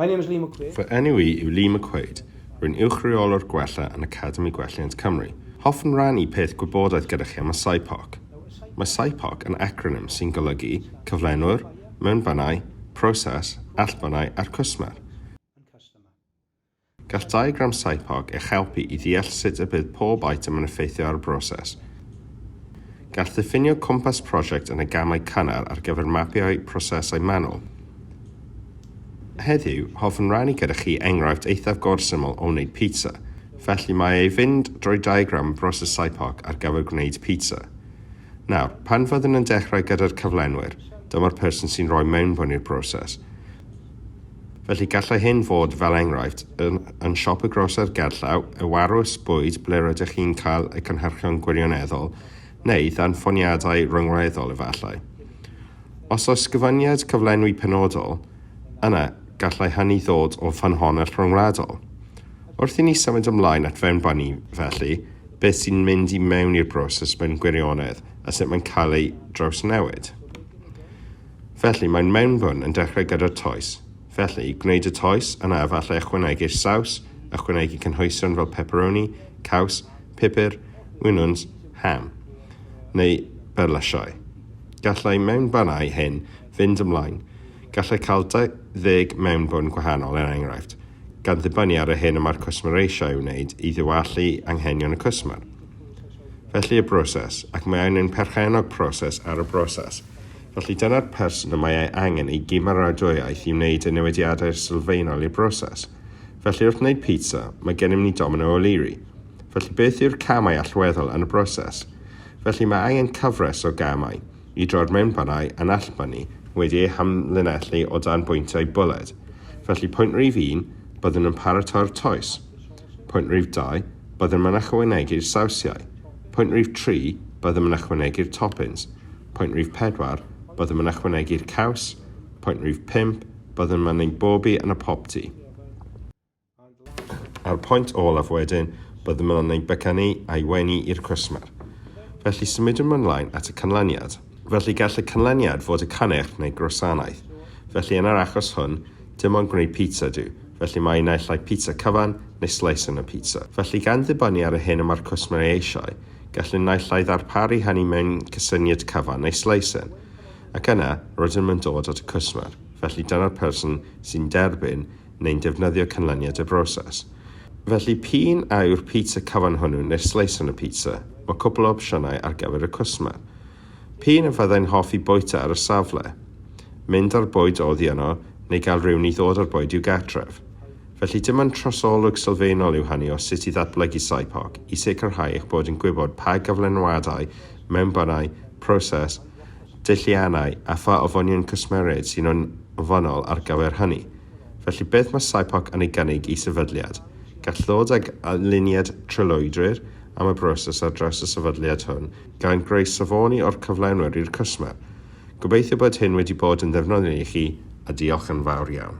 My name is Lee McQuaid. Fy enw i yw Lee McQuaid. Rwy'n Uwch-reolwr Gwella yn Academi Gwelliant Cymru. Hoffwn rannu peth gwybodaeth gyda chi am y SIPOC. Mae SIPOC yn acronym sy'n golygu Cyflenwr, Mewnbynau, Proses, Allbynau a'r Cwsmer. Gall diagram SIPOC eich helpu i ddeall sut y bydd pob eitem yn effeithio ar y broses. Gall ddiffinio cwmpas prosiect yn y gamau cynnar ar gyfer mapio'u prosesau manwl. Heddiw, hoffwn rannu gyda chi enghraifft eithaf gorsyml o wneud pizza, felly mae ei fynd drwy diagram y broses SIPOC ar gyfer gwneud pizza. Nawr, pan fyddwn yn dechrau gyda'r cyflenwyr, dyma'r person sy'n rhoi mewnbwn i'r broses. Felly gallai hyn fod, fel enghraifft, yn yn siop y groser gerllaw, y warws bwyd ble rydych chi'n cael y cynhyrchion gwirioneddol, neu ddanfoniadau rhyngwladol efallai. Os oes gyfyngiad cyflenwi penodol, yna gallai hynny ddod o ffynhonnell ryngwladol. Wrth i ni symud ymlaen at fewnbynnu, felly, beth sy'n mynd i mewn i'r broses mewn gwirionedd a sut mae'n cael ei drawsnewid. Felly, mae'n mewnfwn yn dechrau gyda'r toes. Felly, gwneud y toes, yna efallai ychwanegu'r saws, ychwanegu cynhwysion fel pepperoni, caws, pupur, winwns, ham. Neu berlysiau. Gallai mewnfannau hyn fynd ymlaen. Gallai cael 20 mewnfwn gwahanol, er enghraifft, gan ddibynnu ar yr hyn y mae'r cwsmer eisiau ei wneud i ddiwallu anghenion y cwsmer. Felly y broses, ac mae angen perchennog proses ar y broses. Felly, dyna'r person y mae ei angen i gymeradwyaeth i wneud y newidiadau sylfaenol i'r broses. Felly, wrth wneud pizza, mae gennym ni Domino O'Leary. Felly, beth yw'r camau allweddol yn y broses? Felly, mae angen cyfres o gamau, i droi'r mewnbannau anallbynnu wedi eu hamlinellu o dan bwyntiau bwled. Felly, pwynt rif un, byddwn yn paratoi'r toes. Pwynt rhif 2, byddem yn ychwanegu'r sawsiau. Pwynt rhif 3, byddem yn ychwanegu'r toppins. Pwynt rhif 4, byddem yn ychwanegu'r caws. Pwynt rhif 5, byddem yn ein bobi yn y popty. A'r pwynt olaf wedyn, byddem yn ein bycanu a'i wenu i'r cwsmer. Felly symudwn ymlaen at y canlyniad. Felly gall y canlyniad fod y canech neu grosanaeth. Felly yn yr achos hwn, Dim ond gwneud pizza ydyw, felly mae naill ai pizza cyfan neu sleis yn y pizza. Felly, gan ddibynnu ar y hyn y mae'r cwsmer ei eisiau, gallwn naill ai ddarparu hynny mewn cysyniad cyfan neu sleis yn. Ac yna, rydym yn dod at y cwsmer, felly dyna'r person sy'n derbyn neu'n defnyddio canlyniad y broses. Felly, p'un a yw'r pizza cyfan hwnnw neu'r sleis yn y pizza, mae cwpl o opsiynau ar gyfer y cwsmer. P'un a fyddai'n hoffi bwyta ar y safle, mynd â'r bwyd oddi yno neu gael rhywun i ddod â'r bwyd i'w gartref. Felly dim ond trosolwg sylfaenol yw hynny o sut i ddatblygu SIPOC i sicrhau eich bod yn gwybod pa gyflenwadau, mewnbynau, proses, deilliannau a pha ofynion cwsmeriaid sy'n ofynnol ar gyfer hynny. Felly beth mae SIPOC yn ei gynnig i sefydliad? Gall ddod ag aliniad trylwydyr am y broses ar draws y sefydliad hwn, gan greu safoni o'r cyflenwyr i'r cwsmer. Gobeithio bod hyn wedi bod yn ddefnyddiol i chi a diolch yn fawr iawn.